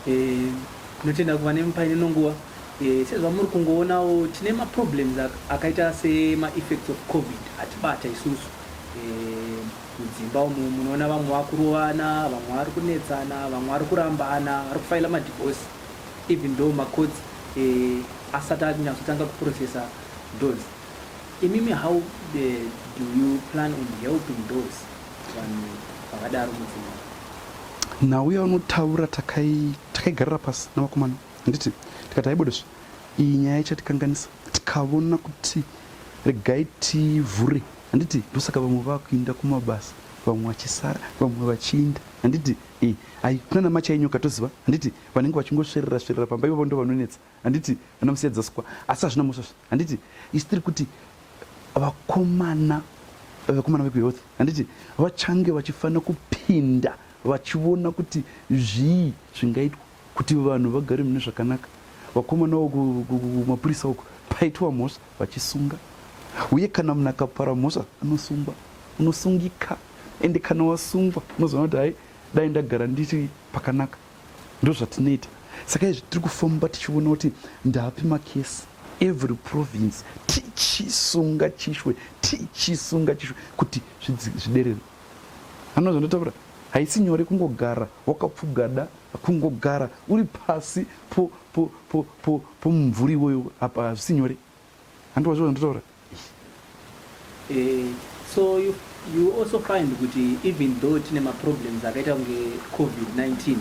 Eh, tinotenda kuva nemupaine nonguva eh, sezvamuri kungoonawo tine maproblems akaita semaeffects of covid atibata isusu eh, mudzimba umu munoona vamwe vakurovana vamwe vari kunetsana vamwe vari kurambana vari kufaila madivosi even though ma courts eh, asati akunyatsotanga kuprocessa those imimi how eh, do you plan on helping those vanhu vakadaro mudzimba nhau yaunotaura takaigarira takai pasi navakomana handiti tikati haibodesvi iyi nyaya ichatikanganisa tikavona kuti regai tivhure handiti ndosaka vamwe vakuinda kumabasa vamwe vachisara vamwe vachiinda handiti Eh, ayi kunana macha enyu ukatoziva handiti vanenge vachingosverera sverera pamba ivavo ndo vanonetsa handiti ana musiyadza sikwa asi hazvina musvasva handiti isi tiri kuti vakomana vakomana vekuhealth handiti vachange vachifanira kupinda vachiona kuti zvii zvingaitwa Kuti vanhu vagare mune zvakanaka, vakomana uku kumapurisa uku paitwa mhosva vachisunga, uye kana munhu akapara mhosva anosungwa, unosungika, ende kana wasungwa unozoona kuti hai dai ndagara ndiri pakanaka. Ndo zvatinoita saka izvi tiri kufamba tichiona kuti ndapi makesi every province tichisunga chishwe tichisunga chishwe kuti zviderere. anozondotaura haisi nyore kungogara wakapfugada kungogara uri pasi pomumvuri iwoyo apa hazvisi nyore handiwa zvo zvandotaura eh, so you, you also find kuti even though tine maproblems akaita kunge covid-19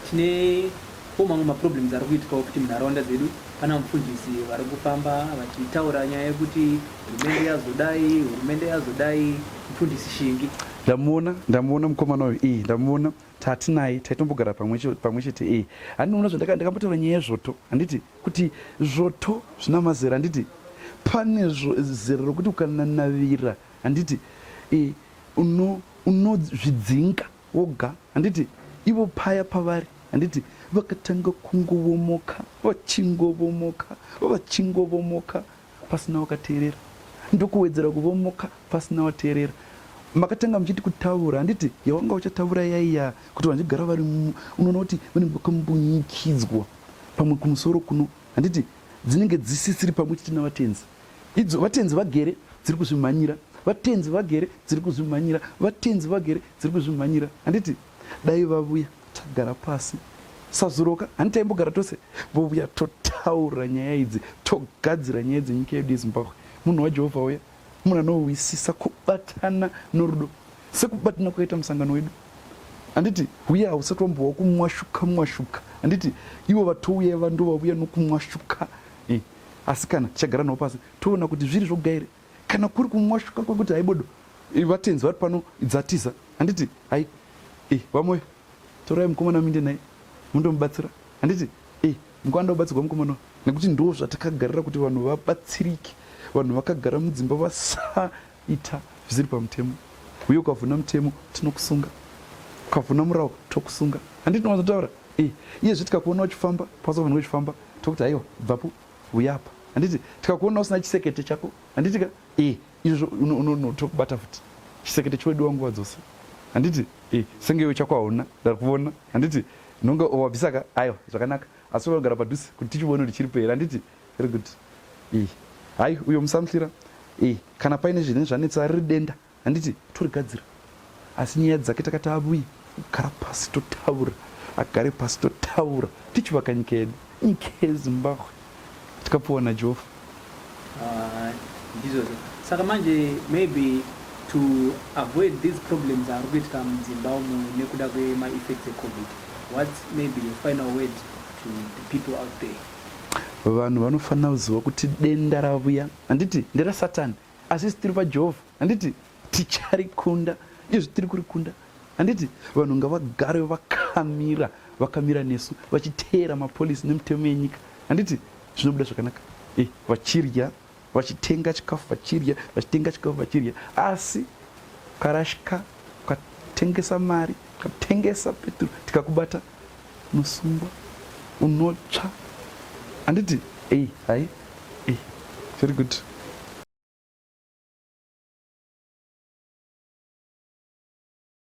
tine Ko mamwe maproblems ari kuitikawo futi munharaunda dzedu pana mufundisi vari kufamba vachitaura nyaya yekuti hurumende yazodai hurumende yazodai mufundisi shingi ndamuona ndamuona mukomana uyu iyi ndamuona tatinaye taitombogara pamwe chete iyi handinoona zvandakambotaura nyaya yezvoto handiti kuti zvoto zvina mazera handiti pane zera rokuti ukananavira handiti unozvidzinga uno Woga handiti ivo paya pavari handiti vakatanga kungovomoka vachingovomoka vachingovomoka pasina wakateerera ndokuwedzera kuvomoka pasina wateerera makatanga muchiti kutaura handiti yawanga uchataura yaiya kuti vandigara vari unoona kuti vanenge vakambunyikidzwa pamwe kumusoro kuno handiti dzinenge dzisisiri pamwe chete navatenzi Idzo vatenzi vagere dziri kuzvimhanyira, vatenzi vagere dziri kuzvimhanyira, vatenzi vagere dziri kuzvimhanyira. Handiti dai vavuya tagara pasi sazoroka hani taimbogara tose vovuya totaura nyaya idzi togadzira nyaya dzenyika yedu yezimbabwe munhu wajehovha uya munhu anohwisisa kubatana norudo sekubatana kwakaita musangano wedu handiti huya hausati wambowa kumwashuka mwashuka handiti ivo vatouya vandovavuya nokumwashuka eh, asi kana tichagara navo pasi toona kuti zviri zvoga here kana kuri kumwashuka kwekuti haibodo vatenzi vari pano dzatiza handiti hai e vamoyo torai mukomana minde naye mundomubatsira handiti e mukwanda ubatsirwa mukomana nekuti ndo zvatakagarira kuti vanhu vabatsirike vanhu vakagara mudzimba vasa Ita zvisiri pamutemo uye ukavhuna mutemo tinokusunga, ukavhuna murawo tokusunga. Handiti tinowanzotaura eh, iye zve tikakuona uchifamba pasa vanhu uchifamba tokuti haiwa bvapo uyapa handiti tikakuona usina chisekete chako handiti ka e izvozvo unotokubata futi chisekete chodiwa nguva dzose handiti e senge iwe chako hauna ndari kuvona handiti nonga wabvisaka aiwa zvakanaka asi unogara padhuze kuti tichivone kuti chiri peri handiti Very good. Eh. Hai uyo musamhlira. Eh, kana paine zvine zvanetsa riri denda. Handiti torigadzira. Asi nyaya dzake takati avuyi kugara pasi totaura. Agare pasi totaura. Tichivaka nyika yedu. Nyika yeZimbabwe. Tikapuwa naJehova. Ah, ndizvo. Saka manje maybe to avoid these problems ari kuitika mudzimba umu nekuda kwemaeffects ecovid whats maybe your final word to the people out there vanhu vanofanira kuziva kuti denda ravuya handiti nderasatani asi isi tiri pajehovha handiti ticharikunda izvi tiri kurikunda handiti vanhu ngavagare vakamira vakamira nesu vachiteera mapolisi nemitemo yenyika handiti zvinobuda zvakanaka e vachirya vachitenga chikafu vachirya vachitenga chikafu vachirya asi karashika ukatengesa mari ukatengesa peturu tikakubata unosungwa unotsva handiti ei hai ei very good